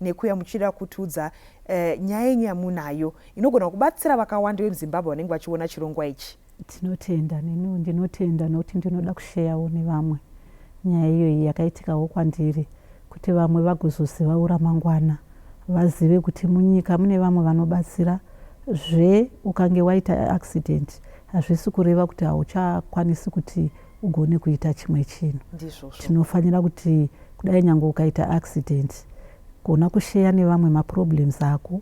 nekuya muchida kutiudza uh, nyaya yenyu yamunayo inogona kubatsira vakawanda vemuzimbabwe vanenge vachiona chirongwa ichi tinotenda neniwo ndinotenda nokuti ndinoda kusheyawo nevamwe nyaya iyoyi yakaitikawo kwandiri kuti vamwe vagozozivawo ramangwana vazive kuti munyika mune vamwe vanobatsira zve ukange waita accident hazvisi kureva kuti hauchakwanisi kuti ugone kuita chimwe chinhu tinofanira kuti kudai nyange ukaita accident kuona kusheya nevamwe maproblems ako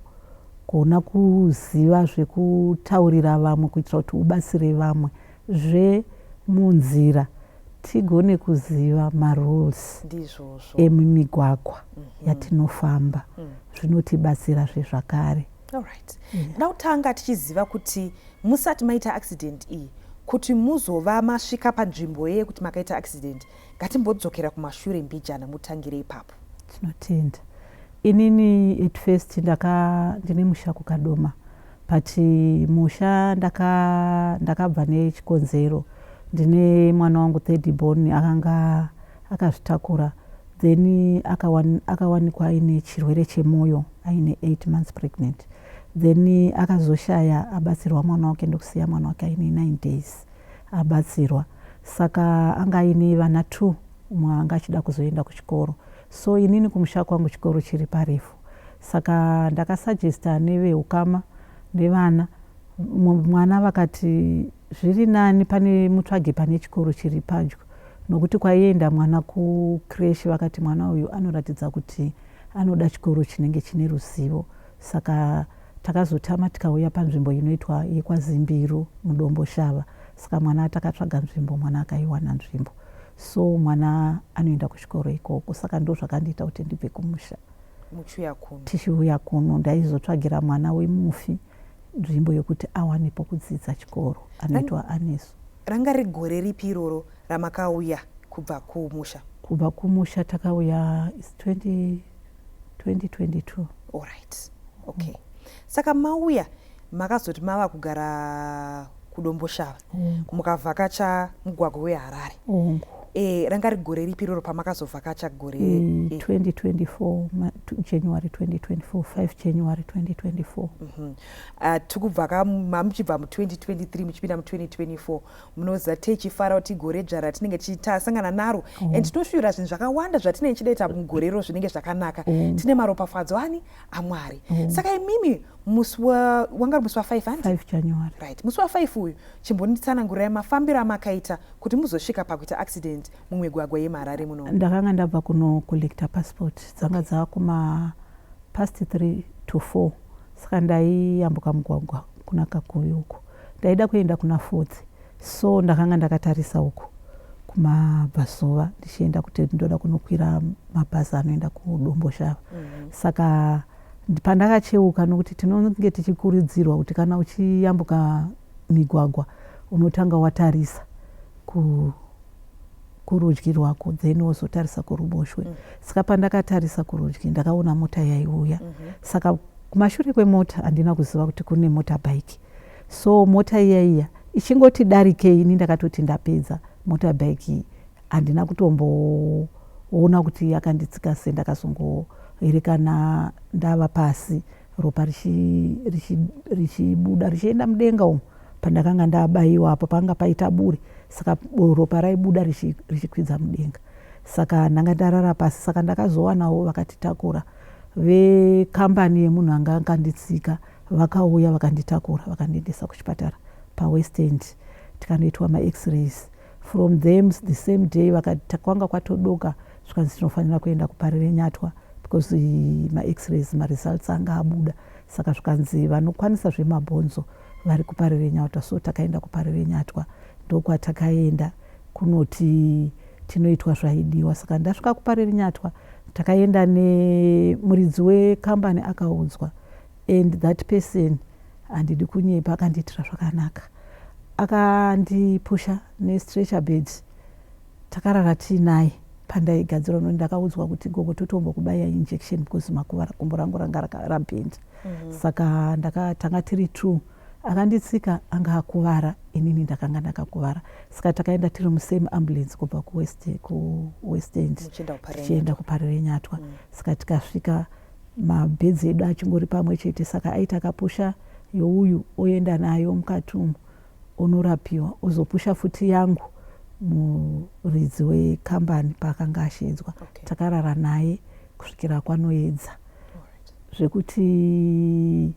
kuona kuziva zvekutaurira vamwe kuitira kuti ubatsire vamwe zvemunzira tigone kuziva marules emumigwagwa mm -hmm. yatinofamba mm. zvinotibatsira zvezvakare Alright. Yeah. Now tanga tichiziva kuti musati maita accident iyi kuti muzova masvika panzvimbo yeye kuti makaita accident ngatimbodzokera kumashure mbijana mutangire ipapo. Tinotenda. Inini at first ndaka ndine musha kukadoma but musha ndaka ndakabva nechikonzero ndine mwana wangu third born akanga akazvitakura then akawan, akawanikwa aine chirwere chemoyo aine 8 months pregnant then akazoshaya abatsirwa mwana wake ndokusiya mwana wake aine 9 days abatsirwa saka anga aine vana two umwe anga achida kuzoenda kuchikoro so inini kumusha kwangu chikoro chiri parefu saka ndakasuggesta neveukama nevana mwana vakati Zviri nani pane mutsvage pane chikoro chiri padyo nokuti kwaienda mwana kucresh vakati mwana uyu anoratidza kuti anoda chikoro chinenge chine ruzivo saka takazotama tikauya panzvimbo inoitwa yekwazimbiru mudomboshava saka mwana takatsvaga nzvimbo mwana akaiwana nzvimbo so mwana anoenda kuchikoro ikoko saka ndo zvakandiita kuti ndibve kumusha tichiuya kuno ndaizotsvagira mwana wemufi nzvimbo yokuti awane pokudzidza chikoro anoitwa anesu ranga riri gore ripi iroro ramakauya kubva kumusha kubva kumusha takauya is 20 2022 allright okay mm. saka mauya makazoti mava kugara kudomboshava mukavhakacha mugwagwa weharare e, ranga ri gore ripi roro pamakazovhakacha gore mm, e. 2024 ma, january 2024 5 january 2024 mm -hmm. uh, tikubva ka mamuchibva mu2023 muchipinda mu2024 munoziva techifara kuti gore dzva ratinenge tichitasangana naro oh. and tinoshuvira zvinhu zvakawanda zvatinenge tidaita mugore ro zvinenge zvakanaka oh. tine maropafadzo ani amwari mm. saka imimi musi wanga uri musi wafive andi january right musi wafive uyu chimbonditsanangurai mafambiro amakaita kuti muzosvika pakuita accident mumigwagwa yemuharare muno ndakanga ndabva kunocollecta passport dzanga dzava kuma past three to four saka ndaiyambuka mugwagwa kuna kakuvi uko Ndaida kuenda kuna Fodzi so ndakanga ndakatarisa uko kumabvazuva ndichienda kuti ndoda kunokwira mabhazi anoenda kudomboshava mm -hmm. saka pandakacheuka nokuti tinonge tichikurudzirwa kuti kana uchiyambuka migwagwa unotanga watarisa ku kurudyi rwako then wozotarisa kuruboshwe mm. saka pandakatarisa kurudyi ndakaona mota yaiuya mm -hmm. saka kumashure kwemota handina kuziva kuti kune mota bike so mota iya iya ichingoti darikei ini ndakatoti ndapedza mota bike iyi handina kutomboona kuti yakanditsika se ndakazongoerekana ndava pasi ropa richibuda richienda mudenga umu pandakanga ndabaiwa apo panga paita buri saka ropa raibuda richikwidza mudenga saka ndanga ndarara pasi saka ndakazowanawo vakatitakura vekambani yemunhu anga akanditsika vakauya vakanditakura vakandiendesa kuchipatara pawestend tikanoitwa max-rays From them the same day vakati kwanga kwatodoka zvikanzi tinofanira kuenda kuParirenyatwa because max-rays maresults anga abuda saka zvikanzi vanokwanisa zvemabhonzo vari kuParirenyatwa so takaenda kuParirenyatwa ndokwatakaenda kunoti tinoitwa zvaidiwa saka ndasvika kuparirinyatwa takaenda nemuridzi wekambani akaudzwa and that person handidi kunyepa akandiitira zvakanaka akandipusha nestretcher bed takarara tiinaye pandaigadzirwa noni ndakaudzwa kuti gogo totombo kubaya injection because makuvara gumbo rangu ranga rabhenda mm -hmm. saka ndakatanga tiri two akanditsika anga akuvara inini ndakanga ndakakuvara saka takaenda tiri musame ambulance kubva kuwest end tichienda kuparirenyatwa mm. saka tikasvika mabeads edu achingori pamwe chete saka aita kapusha youyu oenda nayo mukati umu onorapiwa ozopusha futi yangu muridzi wekambani paakanga asheedzwa okay. takarara naye kusvikira kwanoedza zvekuti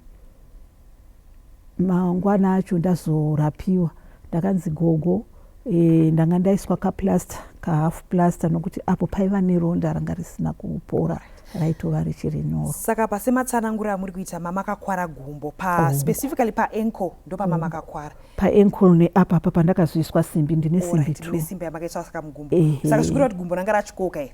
Mangwana acho ndazorapiwa ndakanzi gogo e, ndanga ndaiswa kaplaster kahalf plaster nokuti apo paiva neronda ranga risina kupora raitova richiri nyoro. Saka pasematsanangura amuri kuita mama akakwara gumbo pa oh. specifically pa ankle ndo pamama oh. akakwara oh. pa ankle ne apa apa pandakazoiswa simbi ndine simbi right. tu. Ndine simbi yamakaiswa saka mugumbo. Ehe. Saka zvikureva kuti gumbo ranga rachikoka here?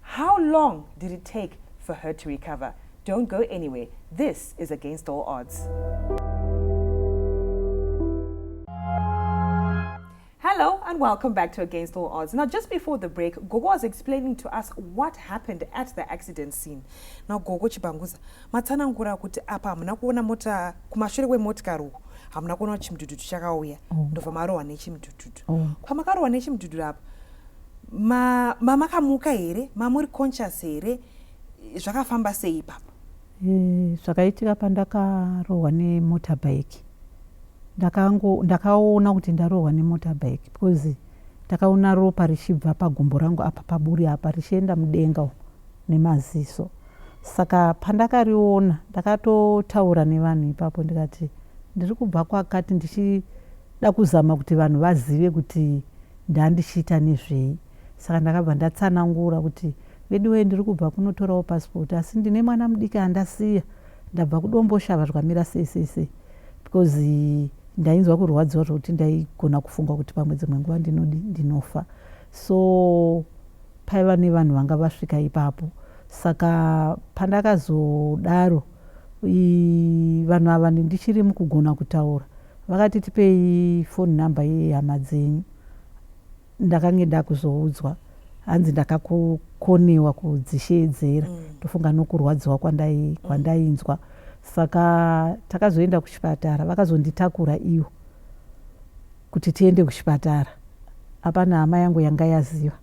How long did it take for her to recover? Don't go anywhere. This is Against All Odds. Hello and welcome back to Against All Odds. Now, just before the break, Gogo was explaining to us what happened at the accident scene. Now, Gogo Chibanguza, matsanangura kuti apa hamuna kuona mota kumashure kwemotikari uku hamuna kuona kuti chimudhudhudhu chakauya oh. ndobva marohwa nechimudhudhudhu oh. kwamakarohwa nechimudhudhudhu apa ma mamakamuka here mamuri conscious here zvakafamba sei ipapo eh, zvakaitika e, pandakarohwa nemotorbike ndakango ndakaona kuti ndarohwa nemotorbike because ndakaona ropa richibva pagumbo rangu apa paburi apa richienda mudenga nemaziso saka pandakariona ndakatotaura nevanhu ipapo ndikati ndiri kubva kwakati ndichida kuzama kuti vanhu vazive kuti ndandichiita nezvei saka ndakabva ndatsanangura kuti veduwee ndiri kubva kunotorawo passport asi ndine mwana mudiki andasiya ndabva kudomboshava zvikamira sei sei sei because ndainzwa kurwadziwa zvekuti ndaigona kufunga kuti pamwe dzimwe nguva ndinodi ndinofa so paiva nevanhu vanga vasvika ipapo saka pandakazodaro vanhu ava ndichiri mukugona kutaura Vakati tipei phone number yehama dzenyu ndakange ndakuzoudzwa hanzi ndakakonewa kudzisheedzera mm. tofunga nokurwadziwa kwandai kwandainzwa saka takazoenda kuchipatara vakazonditakura ivo kuti tiende kuchipatara apana hama yangu yanga yaziva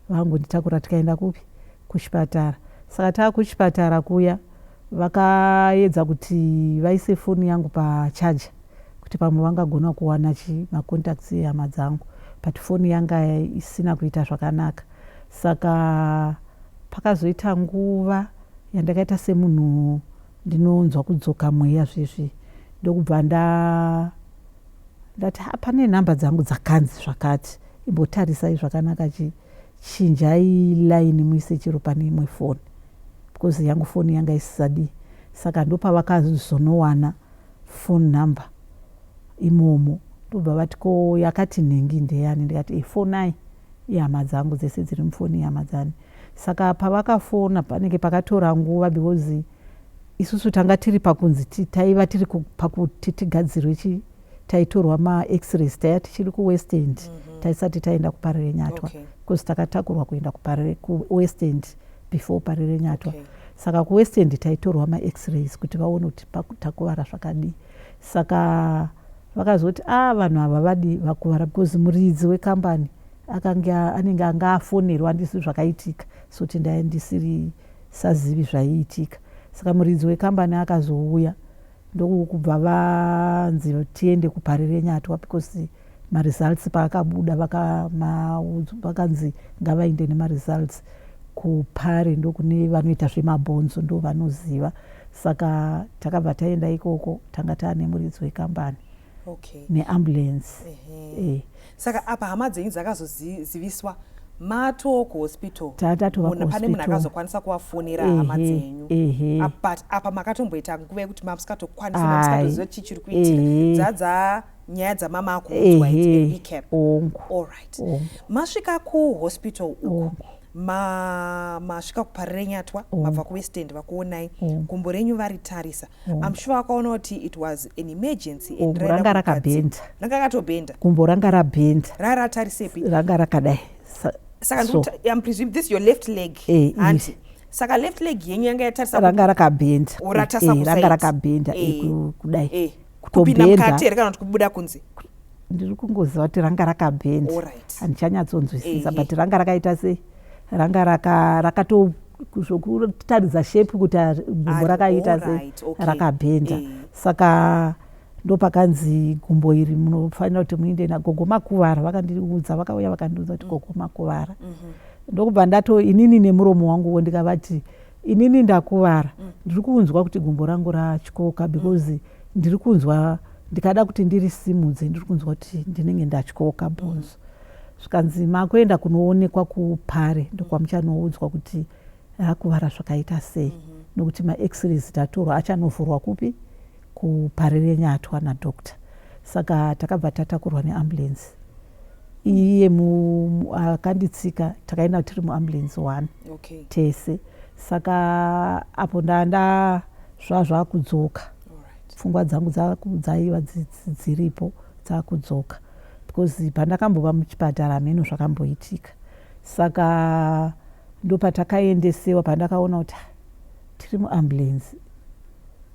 vangonditakura tikaenda kupi kuchipatara saka taakuchipatara kuya Vakaedza kuti vaise foni yangu pa charger kuti pamwe vangagona kuwana chi ma contacts ehama dzangu but foni yanga isina kuita zvakanaka saka pakazoita nguva yandakaita semunhu ndinonzwa kudzoka mweya zvezvi ndokubva nda ndati ha pane nhamba dzangu dzakanzi zvakati imbotarisai zvakanaka chii chinjai line muise chero pane imwe foni because yangu foni yanga isisadi saka ndopavakazonowana foni number imomo ndobva vati ko yakati nhingi ndeyani ndikati ifonai ihama dzangu dzese dziri mufoni ihama dzani saka pavakafona panenge pakatora nguva because isusu tanga tiri pakunzi taiva tiri pakuti tigadzirwe taitorwa ma x-rays taiya tichiri kuwest end mm -hmm. taisati taenda kuparire nyatwa because okay. takatakurwa kuenda kuparire kuwest end before parire nyatwa okay. saka kuwest end taitorwa ma x-rays kuti vaone kuti takuvara zvakadii saka vakazoti a ah, vanhu ava vadi vakuvara because muridzi wekambani akange anenge anga afonerwa andisi zvakaitika soti ndaye ndisiri sazivi zvaiitika saka muridzi wekambani akazouya ndokubva vanzi tiende kuParirenyatwa because maresults paakabuda vakanzi ngavaende nemaresults kupari ndokune vanoita zvemabhonzo ndovanoziva saka takabva taenda ikoko tanga tane muridzi wekambani okay. neambulance eh. saka apa hama dzenyu dzakazoziviswa matoo kuhospital pane munhu akazokwanisa kuvafonera hama dzenyu but apa makatomboita nguva yekuti mamusikatokwanisa chii chiri kuitika dzadza nyaya dzamama akuudzwa recap allright masvika kuhospital uku ma masvika kuparerenyatwa mm. mabva kuwest end vakuonai mm. gumbo renyu varitarisa mm. am sure vakaona kuti it was an emergency and ranga rakabhenda ranga rakatobhenda gumbo ranga rabhenda ranga ratarisepi ranga rakadai saka so. am presume this your left leg eh, hanti eh. saka left leg yenyu yanga yatarisa ranga rakabhenda eh, ranga rakabhenda eh, eh, kudai eh. kupinda mukati here kana kuti kubuda kunze ndiri kungoziva kuti ranga rakabhenda handichanyatsonzwisisa but ranga rakaita sei ranga rakato zvokutaridza shape kuti gumbo rakaita sei rakabhenda eh. saka ndopakanzi gumbo iri munofanira kuti muinde nagogo makuvara vakandiudza vakauya vakandiudza kuti mm. gogo makuvara mhm. ndokubva ndato inini nemuromo wangu wo ndikavati mm -hmm inini ndakuvara mm. ndiri kunzwa kuti gumbo rangu ratyoka because mm. ndiri kunzwa ndikada kuti ndiri simudze ndiri kunzwa kuti ndinenge ndatyoka bhonzo zvikanzi makuenda kunoonekwa kupare ndokwamuchanoudzwa kuti akuvara zvakaita sei mhm. nokuti maexrays tatorwa achanovhurwa kupi kupare renyatwa nadoctor saka takabva tatakurwa neambulensi iye akanditsika takaenda tiri muambulance one okay. tese saka apo ndanda zvazvakudzoka right. pfungwa dzangu dzaiva dziripo dzakudzoka because pandakambova muchipatara hameno zvakamboitika saka ndopatakaendesewa pandakaona kuti tiri muambulance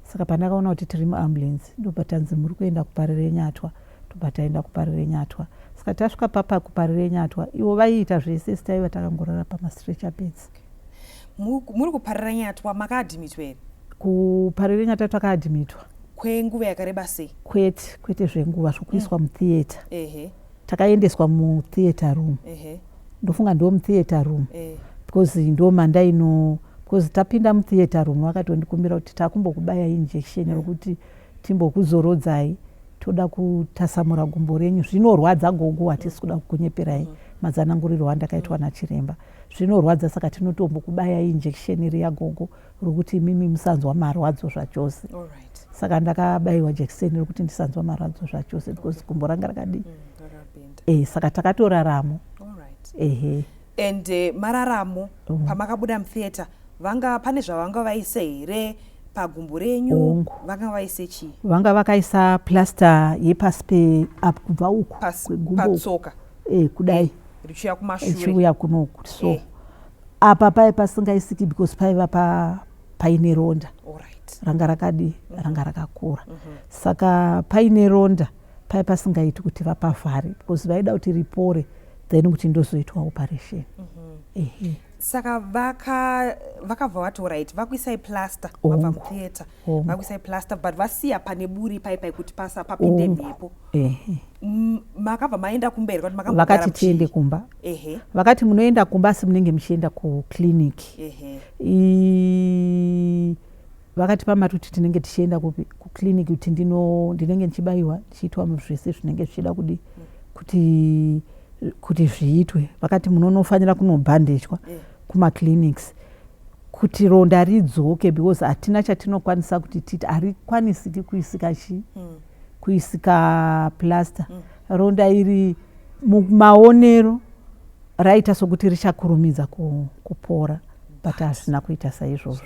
saka pandakaona kuti tiri muambulance ndopatanzi muri kuenda kuparirenyatwa Tobva taenda kuParirenyatwa. Saka tasvika papa kuParirenyatwa ivo vaiita zvese asi taiva takangorara pamastretcher beds. Muri kuParirenyatwa makaadhimitwa here? Kuparirenyatwa takaadhimitwa. Kwenguva yakareba sei? Kwete, kwete zvenguva zvokuiswa mm. mutheatre. Ehe. Takaendeswa mutheatre room. Ehe. Ndofunga ndiwo mutheatre room. Ehe. Because ndo mandaino because tapinda mutheatre room vakatondikumbira kuti takumbokubaya injection rokuti mm. timbokuzorodzai toda kutasamura gumbo renyu zvinorwadza gogo hatisi kuda kukunyeperai mm. mazananguriro andakaitwa nachiremba zvinorwadza saka tinotombokubaya injection riya gogo rokuti mimi musanzwa marwadzo zvachose saka ndakabayiwa jekiseni rokuti ndisanzwa marwadzo zvachose because gumbo ranga rakadii mm, eh, saka takatoraramo ehe and eh, mararamo mm. pamakabuda mutheatre vanga pane zvavanga vaise here pagumbo renyu vanga vaise chii vanga vakaisa plaster yepasi peapo kubva uku kwegumbopatsoka e, eh, kudai eh, richiuya kumashureichiuya kunoku so e. apa paye pasingaisiki because paiva pa, paine ronda right. ranga rakadi mm -hmm. ranga rakakura mm -hmm. saka paine ronda paye pasingaiti kuti vapavhare because vaida kuti ripore then kuti ndozoitwa operation mm -hmm. saka vakabva vati orit vakuisai plaster vabva mutheatre vakuisai plaster but vasiya pane buri pai pai kuti pasa papinde mhepo makabva maenda kumberi kuti makavakati tiende kumba ehe vakati munoenda kumba asi munenge muchienda kuclinic ehe vakatipa mari kuti tinenge tichienda kupi kuclinic kuti ndino ndinenge ndichibayiwa ndichiitwa zvese zvinenge zvichida kudi kuti kuti zviitwe vakati munonofanira kunobhandejwa eh. kumaclinics kuti ronda ridzoke because hatina chatinokwanisa kuti titi harikwanisiki kuisika chii hmm. kuisika plaster hmm. ronda iri mumaonero raita sokuti richakurumidza kupora but hazvina kuita saizvozvo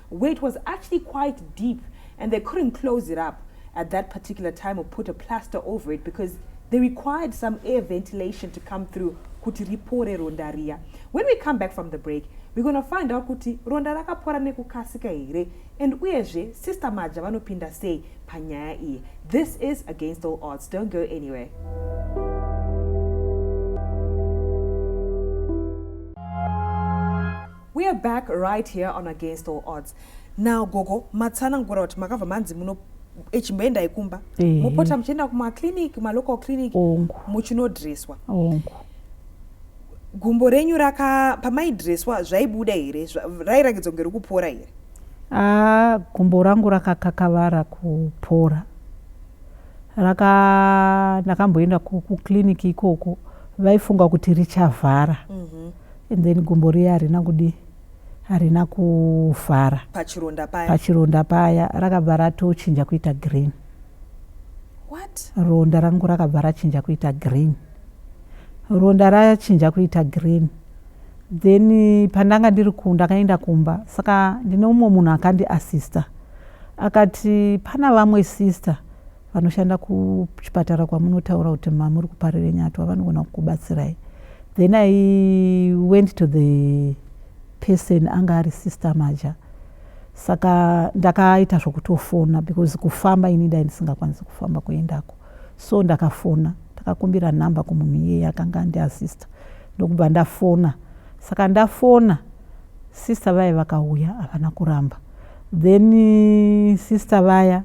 where it was actually quite deep and they couldn't close it up at that particular time or put a plaster over it because they required some air ventilation to come through kuti ripore ronda riya when we come back from the break we're going to find out kuti ronda rakapora nekukasika here and uyezve sister maja vanopinda sei panyaya iyi this is against all odds don't go anywhere We are back right here on Against All Odds. Now gogo matsanangura kuti makabva manzi muno echimboendai kumba mopota muchienda kumaclinic malocal clinic muchinodreswa gumbo renyu raka pamaidreswa zvaibuda here rairakidza kunge rikupora here ah, gumbo rangu rakakakavara kupora raka ndakamboenda kuclinic ikoko vaifunga kuti richavhara mm -hmm. and then gumbo riya harina kudii harina kuvhara pachironda paya pachironda paya rakabva ratochinja kuita green what ronda rangu rakabva rachinja kuita green ronda rachinja kuita green then eh, pandanga ndiri ku ndakaenda kumba saka ndine umwe munhu akandi assista akati pana vamwe sister vanoshanda kuchipatara kwamunotaura kuti mamuri kuparire nyatwa vanogona kukubatsirai then i went to the person anga ari sister maja saka ndakaita zvokutofona because kufamba ini dai ndisingakwanisi kufamba kuendako so ndakafona ndakakumbira nhamba kumunhu iyeye akanga andiasista ndokubva ndafona saka ndafona sister vaya vakauya havana kuramba then sister vaya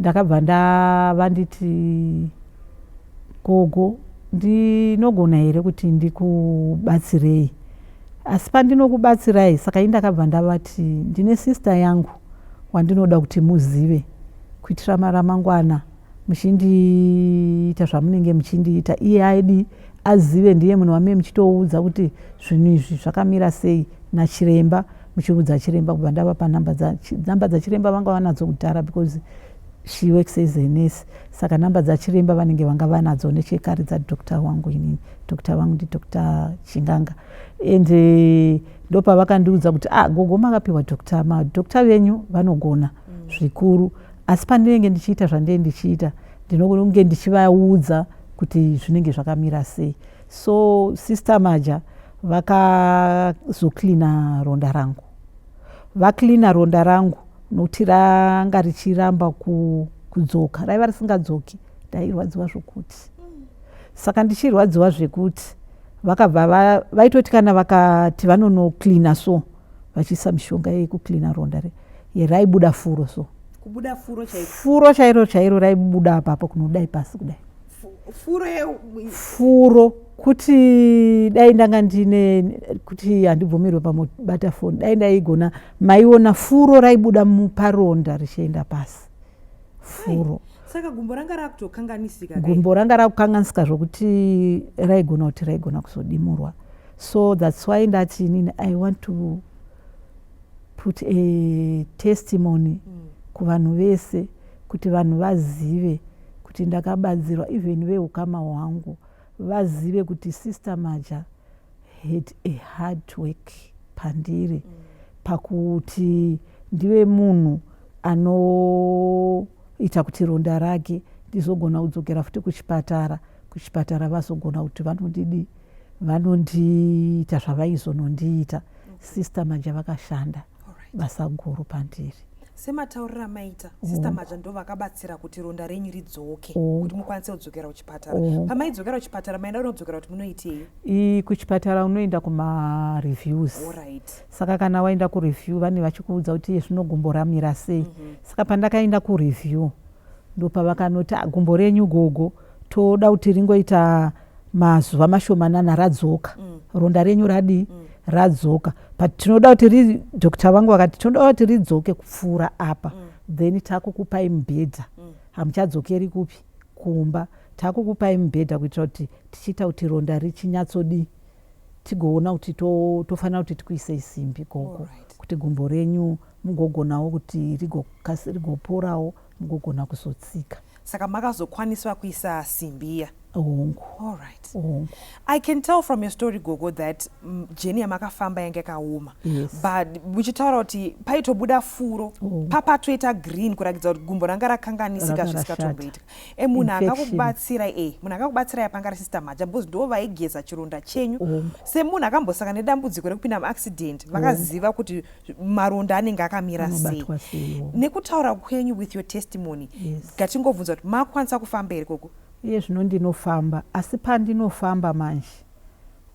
Ndakabva ndava nditi gogo ndinogona here kuti ndikubatsirei asi pandinokubatsirai saka ini ndakabva ndavati ndine sister yangu wandinoda kuti muzive kuitira ramangwana muchindiita zvamunenge muchindiita iye aidi azive ndiye munhu wamee muchitoudza kuti zvinhu izvi zvakamira sei nachiremba muchiudza chiremba kubva ndavapa number dzanumber dzachiremba vanga vanadzo kudhara because she works as a nurse saka number dzachiremba vanenge vanga vanadzo nechekare dzadoctor wangu inini doctor vangu ndidoctor chinganga and eh, ndopavakandiudza kuti ah gogo makapiwa doctor madoctor venyu vanogona mm. zvikuru asi pandinenge ndichiita zvandee ndichiita ndinokunge ndichivaudza kuti zvinenge zvakamira sei So sister Maja vakazocleana ronda rangu. Vacleana ronda rangu nokuti ranga richiramba kudzoka. Raiva risingadzoki. Ndairwadziwa zvokuti. Saka ndichirwadziwa zvekuti vakabva vaitoti kana vakati vanonocleana so vachiisa mishonga yekucleana ronda re yeraibuda furo so. Kubuda furo chairo. Furo chairo chairo raibuda apapo kunodai pasi kudai. furo furo kuti dai ndanga ndine kuti handibvumirwe pamubata foni dai ndaigona maiona furo raibuda muparonda richienda pasi furo saka gumbo ranga rakutokanganisika gumbo ranga rakukanganisika zvokuti raigona kuti raigona kuzodimurwa so thats why ndati inini i want to put a testimony mm. kuvanhu vese kuti vanhu vazive kuti ndakabatsirwa even vehukama hwangu vazive kuti sister maja had a hard work pandiri mm. pakuti ndive munhu anoita kuti ronda rake ndizogona kudzokera futi kuchipatara kuchipatara vazogona kuti vanondidi vanondiita zvavaizonondiita sister maja vakashanda basa guru pandiri semataurira amaita oh. sista madya ndo vakabatsira kuti ronda renyu ridzoke oh. kuti mukwanise kudzokera kuchipatara oh. pamaidzokera kuchipatara maenda unodzokera kuti munoitei kuchipatara unoenda kumareviews saka kana waenda kureview vane vachikuudza kuti iye zvinogumbo ramira sei mhm. saka pandakaenda kureview Ndopavakanoti ah gumbo renyu gogo toda kuti ringoita mazuva mashomanana radzoka mm. ronda renyu radii mm. radzoka but tinoda kuti ri doctor vangu vakati tinoda kuti ridzoke kupfuura apa mm. then takukupai mubhedha mm. hamuchadzokeri kupi kumba takukupai mubhedha kuitira kuti tichiita kuti ronda richinyatsodii tigoona kuti tofanira to kuti tikuisei simbi gogo right. kuti gumbo renyu mugogonawo kuti rigoporawo mugogona kuzotsika saka makazokwaniswa kuisa simbi iya hongu all right hongu i can tell from your story gogo that mm, jeni yamakafamba yange yakaoma yes. but muchitaura kuti paitobuda furo oh. papatoita green kuratidza kuti gumbo ranga rakanganisika zvisikatomboitika e munhu akakubatsira e munhu akakubatsira yapanga ari sister maja because ndo vaigeza chironda chenyu oh. semunhu akambosangana nedambudziko rekupinda muaccident vakaziva oh. kuti maronda anenge akamira sei nekutaura kwenyu with your testimony ngatingobvunza yes. kuti makwanisa kufamba here koko iye zvino ndinofamba asi pandinofamba manje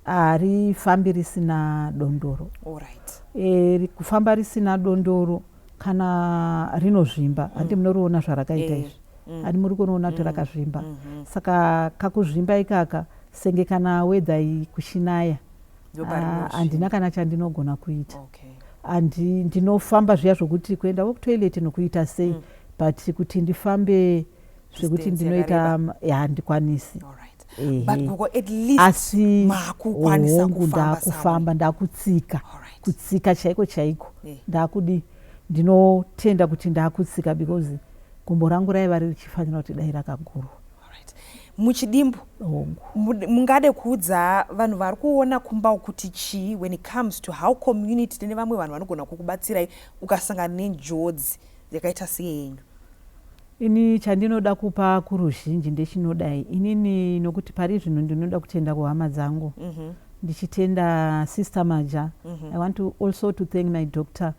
harifambi risina dondoro right. e, eh, kufamba risina dondoro kana rinozvimba mm. handi munoriona zvarakaita eh, izvi mm. handi muri kunoona kuti mm. rakazvimba mm -hmm. saka kakuzvimba ikaka senge kana wedha kushinaya Ah, handina kana chandinogona kuita okay. and ndinofamba zviya zvokuti kuenda wokutoilet nokuita sei mm. but kuti ndifambe zvekuti ndinoita handikwanisi asi hongu ndakufamba ndakutsika kutsika chaiko chaiko eh. ndakudi ndinotenda kuti ndakutsika because gumbo rangu raiva ririchifanira kuti dai rakagurwa muchidimbu mungade kuudza vanhu vari kuona kumba kuti chii when it comes to how community tine vamwe vanhu vanogona kukubatsirai ukasangana nenjodzi yakaita seyenyu ini chandinoda kupa kuruzhinji ndechinodai inini nokuti pari zvinhu ndinoda kutenda kuhama dzangu mm -hmm. ndichitenda sister maja mm -hmm. i want to also to thank my doctor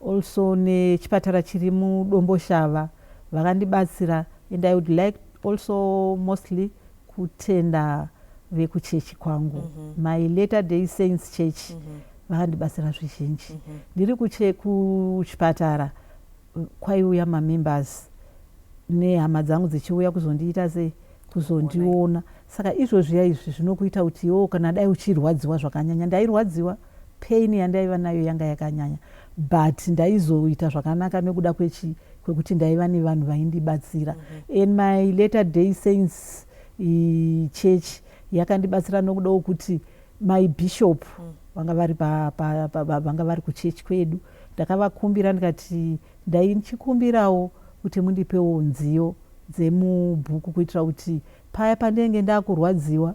also nechipatara chiri muDomboshava vakandibatsira and I would like also mostly kutenda vekuchechi kwangu mm -hmm. my later day saints church mm -hmm. vakandibatsira zvizhinji mm -hmm. ndiri kuchipatara kwaiuya mamembers nehama dzangu dzichiuya kuzondiita sei kuzondiona saka izvozviya izvi zvinokuita kuti iwo kana dai uchirwadziwa zvakanyanya ndairwadziwa mm -hmm. pain yandaiva nayo yanga yakanyanya but ndaizoita zvakanaka nekuda kwechi kwekuti ndaiva nevanhu vaindibatsira mm -hmm. in my later day saints i church yakandibatsira nokuda wokuti my bishop mm. vanga vari pa, pa, pa, pa, vanga vari kuchechi kwedu ndakavakumbira ndikati ndaichikumbirawo kuti mundipewo nziyo dzemubhuku kuitira kuti Paya pandenge ndakurwadziwa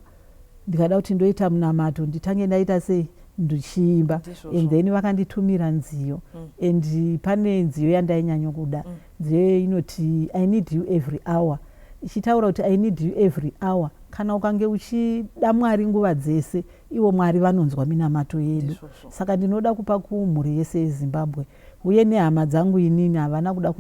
ndikada kuti ndoita munamato nditange ndaita sei ndichiimba and then vakanditumira nziyo mm. and pane nziyo yandainyanya kuda mm. nziyo iyoyo inoti i need you every hour ichitaura kuti i need you every hour kana ukange uchida mwari nguva dzese ivo mwari vanonzwa minamato yedu saka ndinoda kupa kumhuri yese yezimbabwe uye nehama dzangu inini havana kuda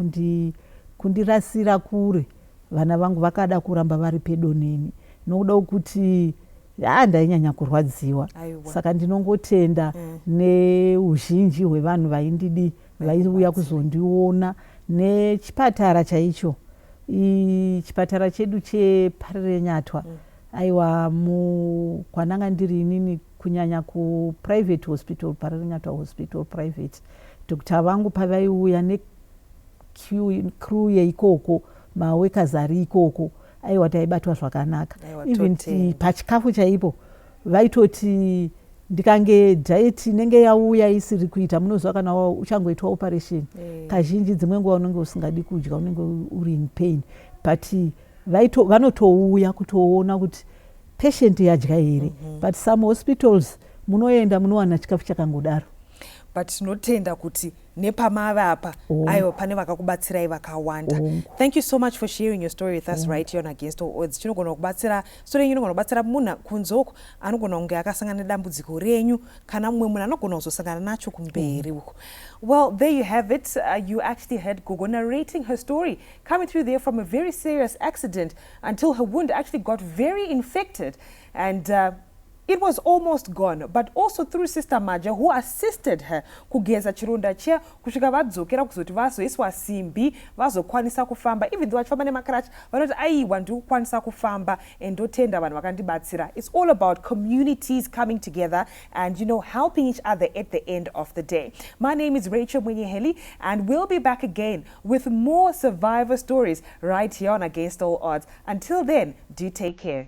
kundirasira kure Vana vangu vakada kuramba vari pedo neni nokuda kwekuti haa ndainyanya kurwadziwa Aiwa. saka ndinongotenda mm. neuzhinji hwevanhu vaindidi vaiuya kuzondiona nechipatara chaicho chipatara chedu cheparenyatwa mm. aiwa mu kwananga ndiri inini kunyanya kuprivate hospital parenyatwa hospital private doctor vangu pavaiuya crew yeikoko maworkers ari ikoko aiwa taibatwa zvakanaka even pachikafu chaipo vaitoti ndikange diet inenge yauya isiri kuita munoziva kana uchangoitwa operation eh. kazhinji dzimwe nguva unenge usingadi kudya unenge uri in pain but vanotouya kutoona kuti patient yadya here mhm. but some hospitals munoenda munowana chikafu chakangodaro but tinotenda kuti nepamave apa aiwa pane vakakubatsirai vakawanda thank you so much for sharing your story with us mm. right here against all odds chinogona kubatsira story yenyu inogona kubatsira munhu kunzoko anogona kunge akasangana nedambudziko renyu kana mumwe munhu anogona kuzosangana nacho kumberi uko well there you have it uh, you actually had gogo narrating her story coming through there from a very serious accident until her wound actually got very infected and uh, It was almost gone but also through sister Maja who assisted her kugeza chironda chiya kusvika vadzokera kuzoti vazoiswa simbi vazokwanisa kufamba even though vachifamba nemacratch vanoti aiwa ndiri kukwanisa kufamba and ndotenda vanhu vakandibatsira it's all about communities coming together and you know helping each other at the end of the day my name is Rachel Mwenyeheli and we'll be back again with more survivor stories right here on Against All Odds until then do take care